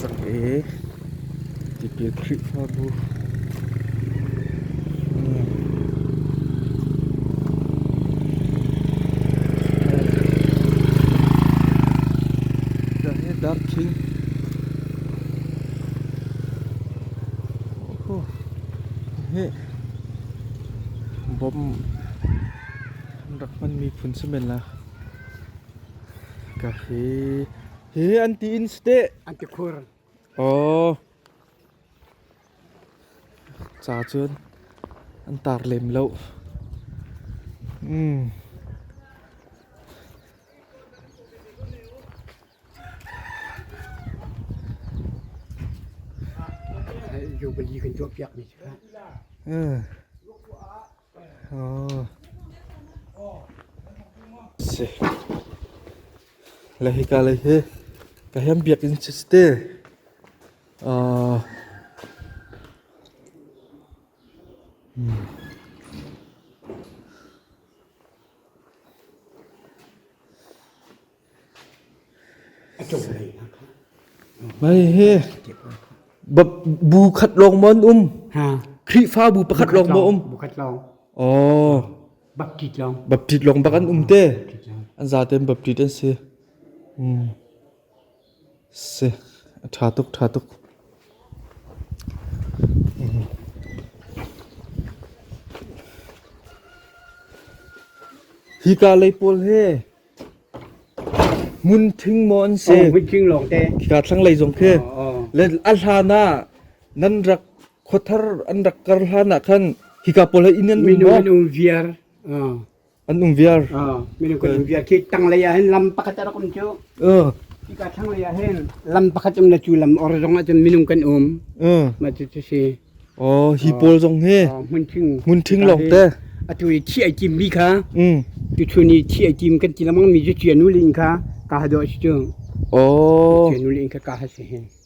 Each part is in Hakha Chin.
Sak i tipil Khrihfabu chung darkhing hi bawm an rak hmanmi phun si men la. Ka hi hi an ti in steh an ti khur oh ca cun an tar lem lo mm. Jubilee kan tuah piak mi cu Hika lei hi ka hem biakinn cu a si te. Bu khat lawng maw an um? Khrihfabu pakhat lawng maw um? Oh. Baptist lawng. Baptist lawng bak an um te. An za ten Baptist an si. Hmm. Seh a ṭha tuk ṭha tuk. Hika lei pawl hi hmun thing maw an si? Oh, mit tling lawngte. Hika thlanglei zong khi oh, oh. le a hlan ah nan rak khuathar an rak kar hlan ah khan hika pawl hi inn an um maw? Minung an um viar. Oh. An um viar. Minung kan bia khi tanglei ah hin lam pakhat a rak um cu. Ika thlanglei ah hin lam pakhat um na cu lam or zong ah cun minung kan um. Ma cu cu si. Oh, hi pawl zong hi hmun thing hmun thing long te. Atu i thi ai tim mi kha. Tu thu ni thi ai tim kan ti lamang mi cu cia nu ling kha ka ha do si cu. Oh. Cia nu ling kha ka ha si hin.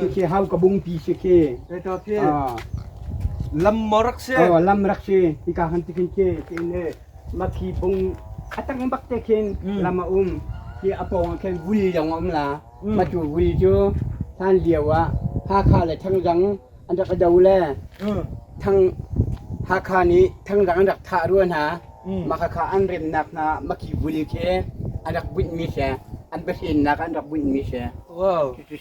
Khikhi hau ka bung pi si khi. Ei to khi. Lam mo rak si. Oh lam rak si. Ika han tikin khi tiin le makhi bung atang bak te khin lam a um. Khi apong khin vui yong om la. Ma tu vui chu san liu ah Hakha le Thangzang an rak do le thang Hakha nih Thangzang an rak thah ruan ha. Makhakha an remnak na makhi vui khi an rak bunh mi se an bahrinnak an rak bunh mi se. Wow.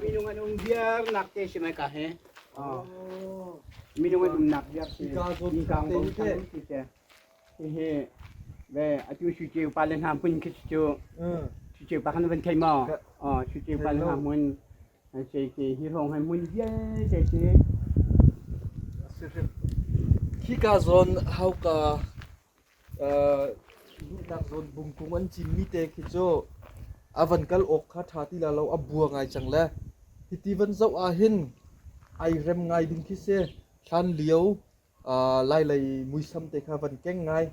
Minung an um viarnak te si mai ka he. Minung an umnak viar si. Mingkang bom sang ti te. Hihi ve atu su ceu pa le hna mun khi cu. Su ceu pa kan van thei ma. Su ceu pa le hna mun. Sai ke hi rong hai mun vialte si. Hi ka zawn hauka duhnak zawn bungkung an cimmi te khi cu a van kal awk kha ṭha ti la lo a bua ngai cang le hiti van zoh ahhin ai rem ngai ding khi si hlan lio lailei muisam te kha van keng ngai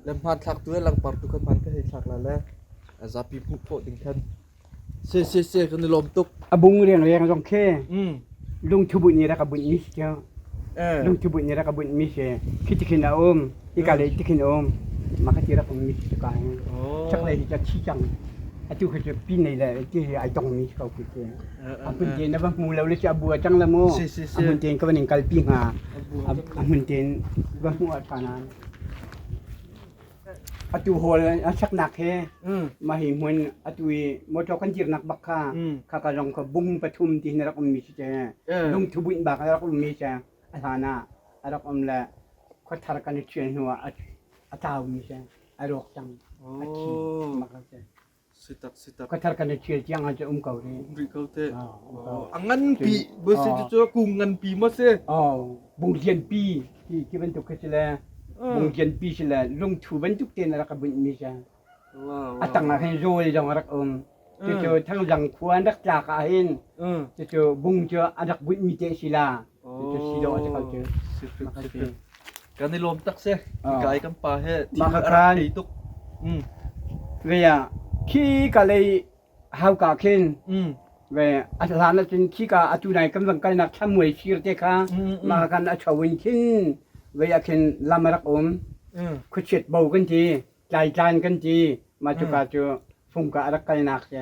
le hmanthlak tu le langpar tu kha hman ka hei thlak la le zapi hmuh khawh ding khan Sesese kan i lawm tuk. A bung riangriang zong khi lungthu bunh ni rak a bunh mi si cu. Lungthu bunh ni rak a bunh mi si. Khi tikhin a um. Ika lei tikhin um. Makati rak um mi si cu ka hi. Chaklei hi ca thi cang. Atu khi cu pin nei le ti hi ai tong mi si ko khi cu. A hmun tein na va hmu lo le ci a bu a cang le mu. A hmun tein ka van in kalpi hnga. A hmun tein va hmu a ṭha nan. atu hawl an saknak he mahi hmun atu i motor kan jirnak bak kha kha ka zong ka bung pathum ti na rak ummi si te lungthu buin bak a rak ummi se a hlan ah a rak um le khuathar kan i ṭhial hnu ah a tlaumi se a rawk cang a thi mak a si Ka thar kan i ṭhial tiang ah cu um ko rih. Rih ko teh. A nganpi, busin cu cu kung nganpi maw si? Bung lianpi ti bantuk khi si le, bung lianpi si le, lungthu bantuk te na rak ka bunhmi si. A tang ah hin rawl zong a rak um. Cucu thangzang khua an rak tlak ah hin, cucu bung cu a rak bunhmi te si la, Kan i lawm tak seh. Ka ai kan pa he team a rak thei tuk. Ve ah khi ka lei hau ka khin ve a hlan ah cun khi ka atu nai kan van kalnak thamuai sir te kha ma kan a chawin khin ve ah khin lam a rak um khuchiat bo kan ti tlai tlan kan ti ma cu ka cu fung ka a rak kalnak se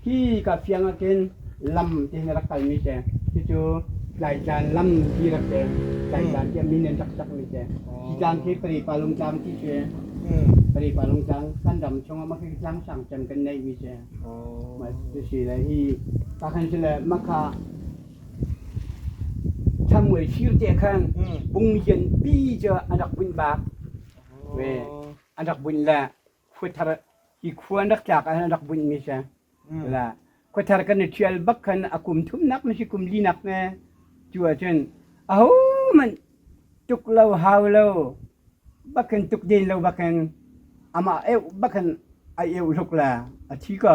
Hi ka fiang ahkhin lam tein rak kalmi te, cucu Tlaitlan lam ti rak te, Tlaitlan tiah min an rak sakmi te. Hi tlang khi Paripalung tlang ti cu Hmm. Paripalung tlang kan ram chungah mah khi tlang sang cem kan neihmi te. Oh. Mah cu si le hi pakhan cu le makha thamuai sir te khan Hmm. bungmian pi cu an rak bunh bak. Ve. Oh. An rak bunh le khuathar i khua rak tlak ah rak bunhmi si khuathar kan i ṭhial bak khan a kum thumnak na si kum linak ne cu ahcun ahohmanh tuk lo hau lo bakin tuk den lo bakin amah eu bakin a eu hluk la a thi ko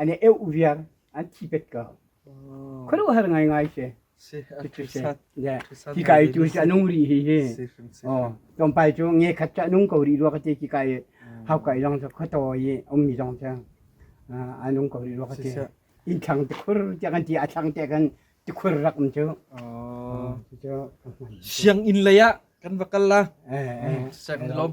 an i eu viar an thi pet ka khuaruahhar ngaingai si cucu si yeah ki kai tu si anung ri hi hi oh tlawmpai cu nge khat cha nung ko ri rua ka ti ki kai hau kai long sa kho to yi om mi dong cha anung ko ri rua ka ti in thang te khur te kan ti a thang te kan ti khur rak um chu oh siang in laya kan vakal la sang lom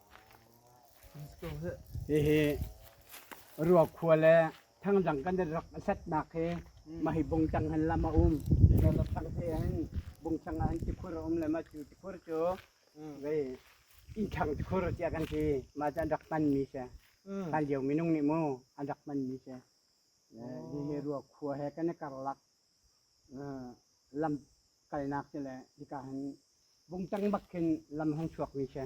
Hihi Ruak khua le thangdang kan i rak a setnak hi mahi bung tang han lam a um. Rak tang te han bung tang han tikhur a um le ma cu tikhur cu vei ih thang tikhur tiah kan ti. Ma cu an rak hmanmi si. Hlan lio minung nih mu an rak hmanmi si. Hihi Ruak khua he kan i karlak. lam kalnak ti le hika hin vung tengmak khin lam han chuakmi khi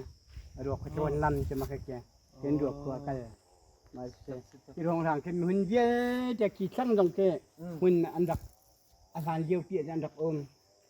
a ruak khi ṭuan lam ti mak khi hin ruak khua kal ma si hi ruangrang khi hmun vialte khi thlang zong khi hmun an rak a hlan lio pi an rak um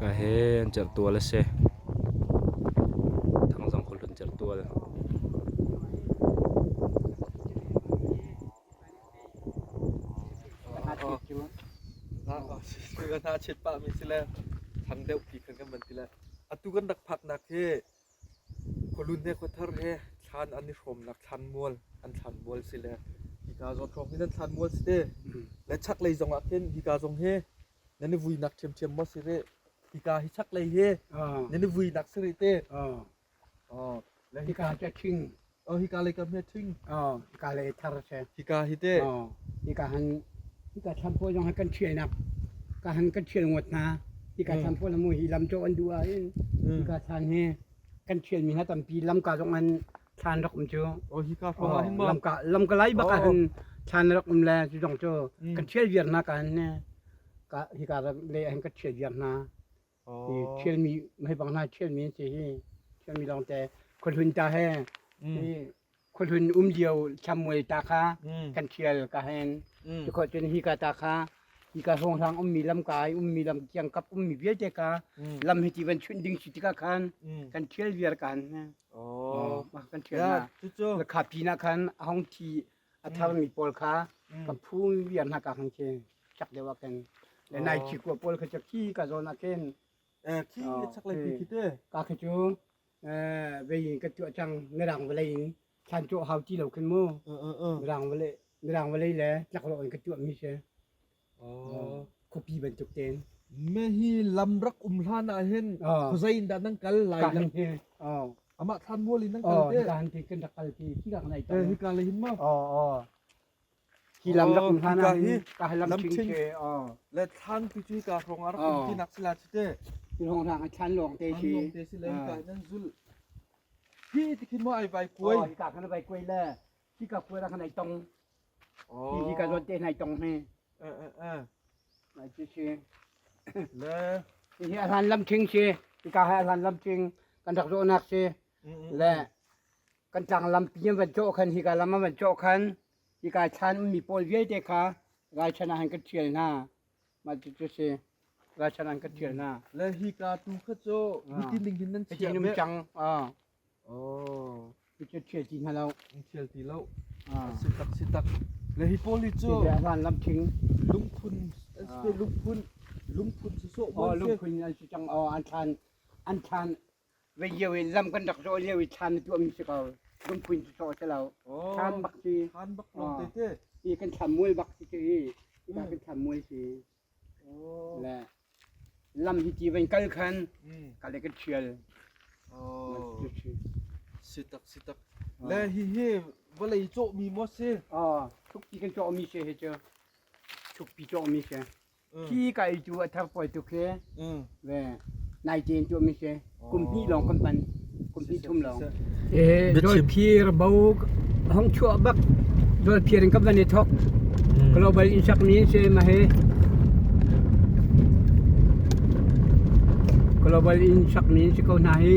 Ka he an cerh tual a si. Thang zong kul an cerh tual. Sister kan ha chet pah mi si le thang deuh pi kan kan man ti le atu kan rak phak nak hi Khualunne khuathar he thlan an i hrawmnak thlanmual an thlanmual si le hika zawt hrawk in an thlanmual si te. Le chaklei zong ah khin hika zong hi nan i vuinak ṭhiamṭhiam maw si rih? Hika hi chaklei hi nan i vuinak si rih te. Le hika hi a ṭhing. Oh, hika lei ka hme thing. Oh, hika lei thar se. Hika hi te. Oh, hika han hika thampo zong han kan thial nak. Ka han kan thial ngot na. Hika thampo la mu hi lam cho an du a in. Hika thang he kan thial mi ha tampi lam ka zong an than rak um chu. Oh, hika fong hin ma. lam ka lam ka lai ba ka han than rak um le chu zong chu kan thial viar na ka an ne. Ka hika le han ka thial viar na. i ṭhialmi hmeibang hna ṭhialmi an si hi ṭhialmi lawngte khuahlun ta he i khuahlun um dio thlamual ta kha kan ṭhial ka hen tikhuah cun hika ta kha hika hawnghrang ummi lamka i ummi lam kiangkap ummi vialte ka lam hi ti van chunh ding si tikah khan kan ṭhial viar ka han hne kan ṭhial na cucu lakha pin ah khan a hong thi a tharmi pawl kha kan phu viar hna ka khang khi chak deuh ah ken le nai chi kua pawl kha ki ka zawn ah ken khi ne chak lai pi khi te ka khi chu vei ka tua chang ne rang valei in khan chu hau ti lo ken mu rang vale rang vale le chak lo in ka tua mi se Khuapi bantuk tein. Mehi lam rak um hlan ah hin khuazei in dah nan kal lai lang te. Amah thlan mual in nan kal te. Kaan te kan rak kal te. Hi ka nai ta. Hi ka le hin ma. Hi lam rak um hlan ah hi ka lam king ke. Le thlan pi cu ka rong ar kum ti nak sila chi te. Rong ra thlan long te chi. Long te si le ka nan zul. Hi tikhin ma ai vai kuai. Hi ka kana vai kuai le. Cika puara kan ai tong. Hi hi ka zuan te nai tong hme. Nai chi si. Le Hi hi alhan lam ching si. Cika hai alhan lam ching kan rak zawh nak si. Le kan tlang lam pian van cawh khan hi ka lam van cawh khan hi ka chan mi pawl vialte kha gai chan han ka thial hna. Ma chi chu si. Gai chan han ka thial hna. le hi ka tu kha cho Ah. hiti ning hin nan Hi chia ti num me. chang. Ah. Picture ṭhial ti hna lo. Ṭhial ti lo. Sitak sitak. Le hi pawl hi cu van lam thing lungphun an si lungphun lungphun su so bon si lungphun an si cang o an thlan an thlan ve io in lam kan rak zo leo i thlan tu am si ko lungphun su so si lo thlan bak si thlan bak lom te te i kan thlam mual bak si ti i kan thlam mual si le lam hi ti van kal khan kale kan ṭhial si tak si tak le hihi vawlei cawhmi maw si thukpi kan cawhmi si hi cu thukpi cawhmi si hi kai tu a thar puai tu khi ve nai teen tuahmi si Kum hnih lawng kan hman. Kum hnih thum lawng. Dolphir bo hong chuah bak dolphir in kan van i thok. Global insak ni se ma he. Global insak ni si ko na hi.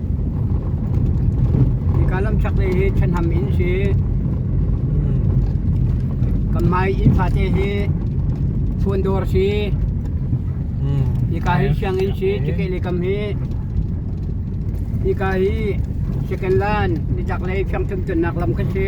Hika lamchaklei hi thenham inn si. Kanmai inn fate hi fun dawr si. Hika hi sianginn si cikeh le kam hi. Hika hi second line nichaklei fiangcuncunak lam kha si.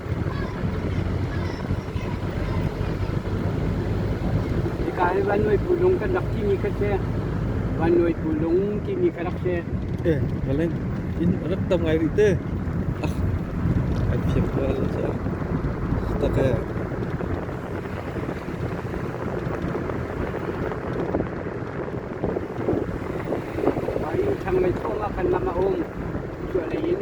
Hika hi Van Nuai Pu Lung kan rak timi kha si. Van Nuai Pu Lung timi kha rak si. Eh, Helen, in rak tam ngai rih te. Ah, ai phiam ko ala che. Tak e. Thang mei thong ah kan lam a um. Chuah lei in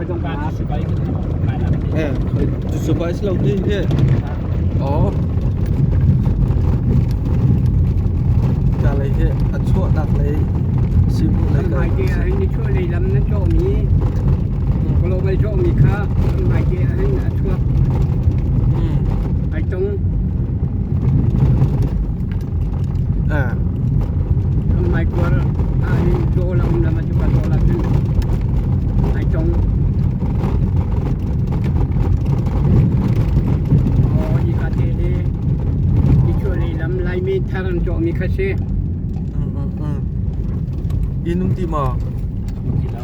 Cucu si lo hi hi. Oh. Ka lei hi a chuah nak lei si mu lei ka. Mai te a rin ni chuah lei lam na chaw mi. Global chaw mi kha mai te a rin a chuak. Ai tong. Kan hmaikuar ah i dawh lamlam cu ka dawh ahcun ai tong. Hi ka te hi hi cu leilam Laimi thar an cawhmi kha si. Inn um ti maw? Um ti lo.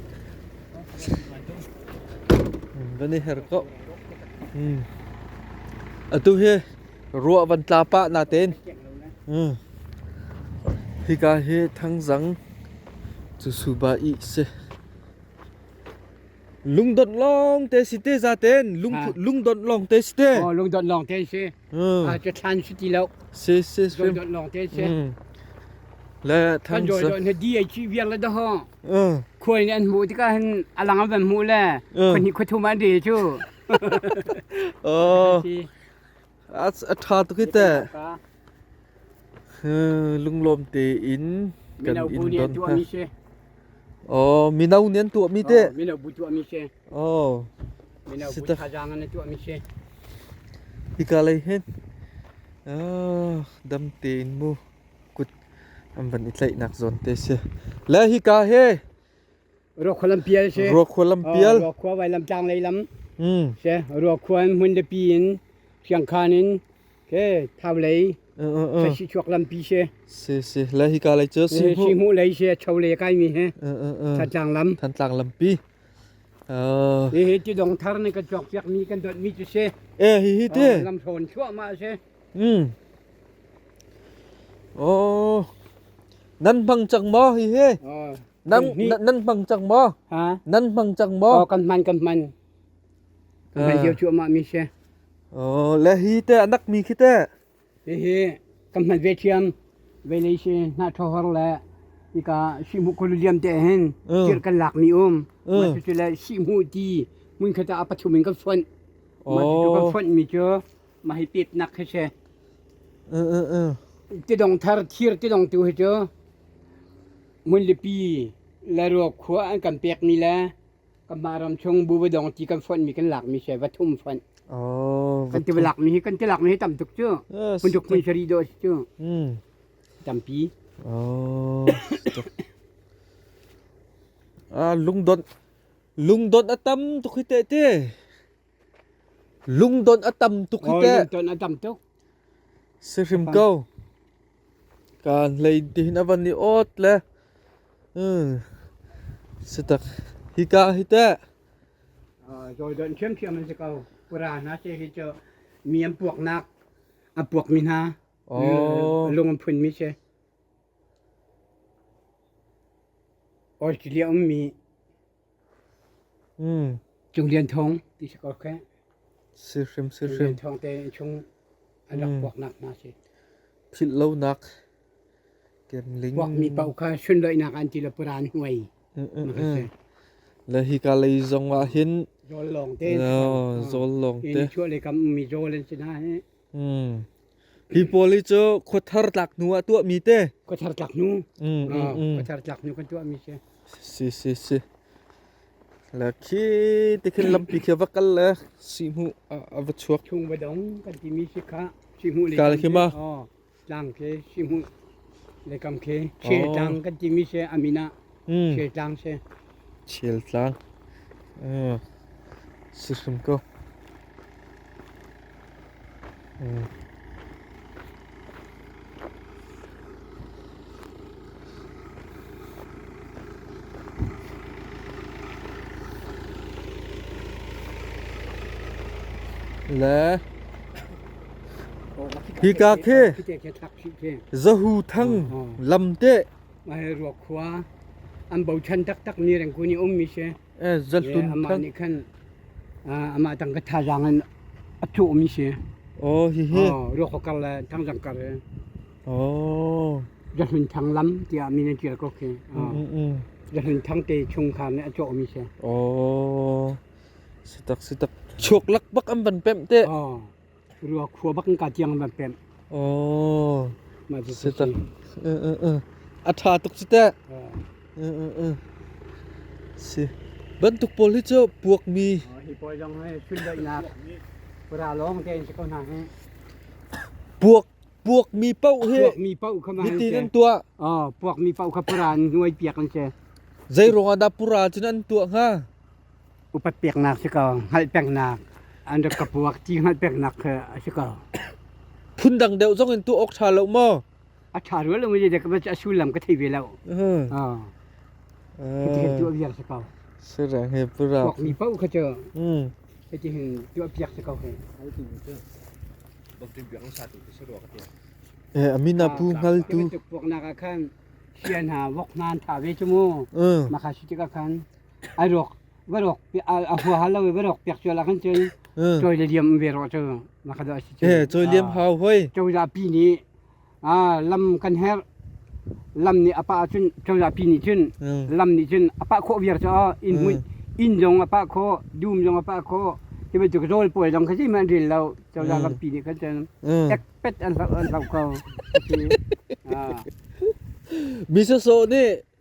Kan i her ko. Hmm. Atu hi ruah van tla pah na ten. Hmm. Hika hi thangzang cu suba i se. Lungdon long te si te za ten. Lung lungdon long te si te. Oh, lungdon long te si. aa ca ṭhan si ti lo. Si si si. Dawt lawng te si. Le Kan dawt dawt na di ai ci viang le daho. Khual nih an hmuh tikah hin alang an van hmuh le. Khonhi khuthum an re cu. Oh. A a ṭha tuk hi te. Lunglawm te in kan Mino bu in nih an don tuah ha. mi si. Oh, mino nih an tuah mi te. Mino bu tuah mi si. Oh. Sita. Hika lei hen. Ah, dam te in mu. Kut am van i tlaih nak zawn te se. Le hika he. Ruak khualam pial se. Ruak khualam pial. Ruak khua vai lam tlang lei lam. Hmm. Se ruak khua in mun de pi in khiang khan in ke thau lei sai si chuak lam pi se. Se se le hika lei chu si mu. Si mu lei se chau le kai mi he. Than tlang lam. Than tlang lam pi. Hihi ti dong thar nih kan cawkpiak mi kan dot mi cu si. Eh hihi ti. Lam thawn chuahmah si. Hmm. Oh. Nan hmang cang maw hihi? Nan nan hmang cang maw? Ha? Nan hmang cang maw? Oh kan hman kan hman. Kan hio chuahmah mi si. Oh le hi te anak mi khi te. Hihi kan hman ve thiam vei si hnahthohar le hika sihmuh kulu liam te hin kir kan lak mi um mah cucu le sihmuh ti mun khat ah pathum in kan fonh mah cucu kan fonh mi cu mah hi pet nak khi si ti dong thar thir ti dong tu hi cu mun lipi le ruak khua an kan pek mi le Kanmah ram chung bu dong ti kan fonh mi kan lak mi se va thum fonh. Oh. Kan ti lak mi hi kan ti lak mi hi tam tuk cu. Kun tuk mun sari do cu. Hmm. Tampi. Oh. ah lungdon lungdon atam tuk hi te te. Lungdon atam tuk hi te. Oh, lungdon atam tuk. Si hrim ko. Ka hlei tihin a van i awt le si tak hika hi teh. Zoidon ṭhiamṭhiam an si ko. Pura hna se hi cu mi an puaknak a puak mi hna. Lung an phun mi se. Australia um mi Cung Lian Thawng ti si ko kheh. Si hrim si Cung hrim. Lian Thawng te in chung an rak kuak nak hna si. Philh lo nak kemling. Kuak mi pau kha sun loi nak an ti le puran huai. Le hi ka lei zong wa hin. Zol long te. No, zol long te. In chua le kam mi zol en sina he. Hi pawl hi cu khuathar tlak hnu ah tuahmi te. Khuathar tlak hnu. Mm, mm, mm. Khuathar tlak hnu kan tuahmi khi. Si si si. La khi ti khin lampi khi va kal le si hmu a va chuak. Chung va dong kan ti mi si ka si hmu le. Kal khi ma. Oh, tlang ke si hmu le kam ke. She tlang kan ti mi se amina Ṭhialtlang si hrim kaw. Le hika khi zahu thang lam te ruak khua an bochan taktak ni reng kuni um mi si amah nih khan amah tang ka thazaang in a thuh mi si oh hihi ruak kho kar le thang zang kar oh zahlun thang lam tiah mi ne tial ko khi zahlun thang te chung khan ne a chaw mi si oh sitak sitak chuk lak bak an ban pem te oh Rua khua bak in ka tiang man pem. Oh. Ma ji se ta. A tha tuk cu teh. Si. Bantuk pawl hi cu puak mi hi pawl dong he chun dai nak pura long te in ko na he puak puak mi pau hi puak mi pau kha ma ti nan tua a puak mi pau kha pura ni nuai piak an che zai rong ada pura chin an tua nga upat peknak si ko hngalh pengnak an rak ka puak ti hngalh peknak kha a si ko phundang deuh zong in tu awk ṭha lo maw a ṭha rua lo mi ka a sullam ka thei ve lo hitihin tu a viang si ko sirang he pura pok mi pau kha cho hitihin tu a piak si ko he Eh, amina pu ngal tu pok na ka khan hian ha wok nan tha ve chu mu ma kha shi ti ka khan ai rawk va rawk a huaha lo i va rawk piak ṭual ahkhin cun cawi le liam ve rawh cu makha dawh a si cu cawi liam hau hoi cozah pi nih lam kan herh lam nih a pah cun cozah pi nih cun lam nih cun a pah khawh viar caah inn hmuih inn zong a pah khawh dum zong a pah khawh hi bantuk rawl puai zong kha sihmanh ril lo cozah lampi nih khan cun ek pet an hlau ko mi sawsawh nih